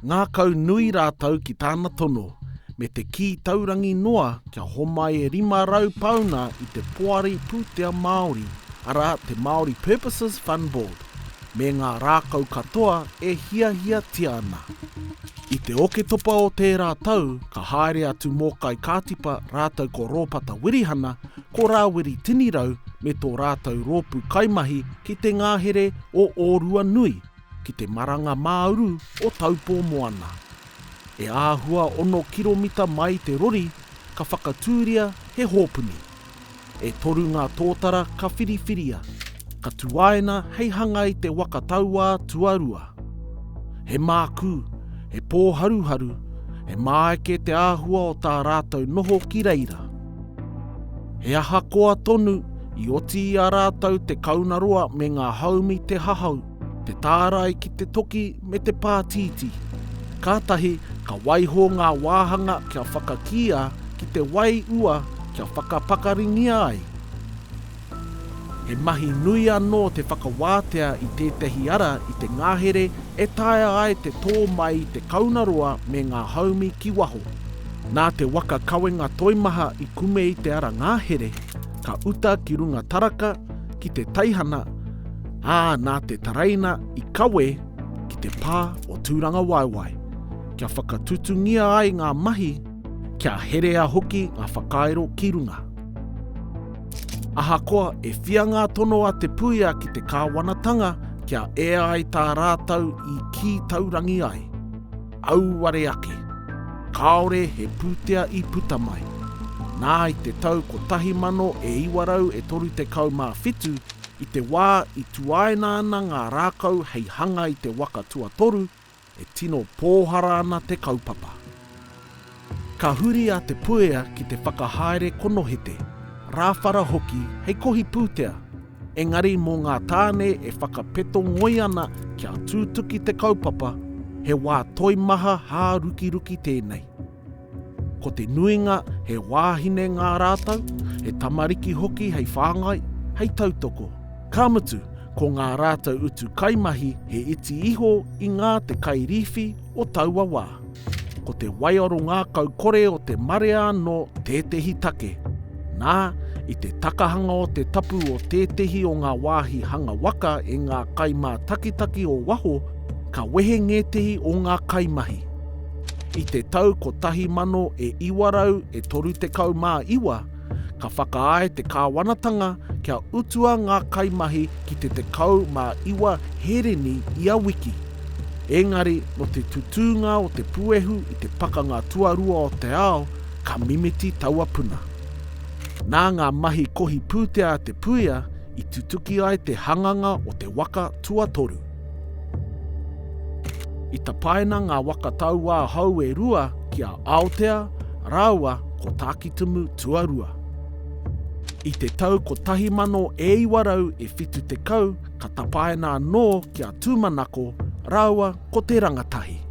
Ngākau nui rātou ki tāna tono, me te kī taurangi noa kia homai e 500 pāuna i te Poari Pūtea Māori, arā, te Māori Purposes Fund Board, me ngā rākau katoa e hiahiatia ana. I te Oketopa o tērā tau, ka haere atu mō Kai Kātipa rātou ko Rōpata Wirihana, ko Rāwiri Tinirau me tō rātou rōpū kaimahi ki te ngahere o Ōruanui, ki te maranga mā-uru o Taupō Moana. E āhua ono kiromita mai te rori ka whakatūria he hōpuni. E toru ngā tōtara ka whiriwhiria, ka tuaina hei hanga i te waka tauā tuarua. He mākū, he pōharuharu, he māeke te āhua o tā rātou noho ki reira. He ahakoa tonu, i oti i a rātou te kaunaroa me ngā haumi te hahau, Te tārai ki te toki me te pātītī. Kātahi ka waiho ngā wāhanga kia whakakīa ki te wai ua kia whakapakaringia ai. He mahi nui anō te whakawātea i tētahi ara i te ngahere e taea ai te tō mai te kaunaroa me ngā haumi ki waho. Nā te waka kawenga toimaha i kume i te ara ngahere, ka uta ki runga taraka, ki te teihana, ā, nā te taraina i kawe ki te pā o Tūrangawaewae, kia whakatutungia ai ngā mahi, kia herea hoki ngā whakairo ki runga. Ahakoa e whia ngā tono a Te Puia ki te kāwanatanga kia ea ai tā rātou i kī taurangi ai, auare ake, kāore he pūtea i puta mai, nā i te tau 1937 I te wā i tuaina ana ngā rākau hei hanga i te waka tuatoru, e tino pōhara ana te kaupapa. Ka huri a Te Puea ki te whakahaere konohete, rāwhara hoki hei kohi pūtea, engari mō ngā tāne e whakapeto ngoi ana kia tūtuki te kaupapa, he wā toimaha hārukiruki tēnei. Ko te nuinga he wāhine ngā rātou, he tamariki hoki hei whāngai, hei tautoko. Ka mutu, ko ngā rātou utu kaimahi he iti iho i ngā te kairīwhi o taua wā. Ko te waiaro ngākau kore o te marea anō tētehi take. Nā, i te takahanga o te tapu o tētehi o ngā wāhi hanga waka e ngā kaimātakitaki o waho, ka wehe ngētehi o ngā kaimahi. I te tau 1939, ka whakaae te kāwanatanga kia utua ngā kaimahi ki te 19 hereni ia wiki. Engari nō te tutūnga o te puehu i te Pakanga Tuarua o te Ao, ka mimiti taua puna. Nā ngā mahi kohi pūtea a Te Puia i tutuki ai te hanganga o te waka tuatoru. I tapaina ngā waka tauā hou e rua ki a Aotea rāua ko Tākitimu Tuarua. I te tau 1970 ka tapaina anō ki a Tūmanako rāua ko Te Rangatahi.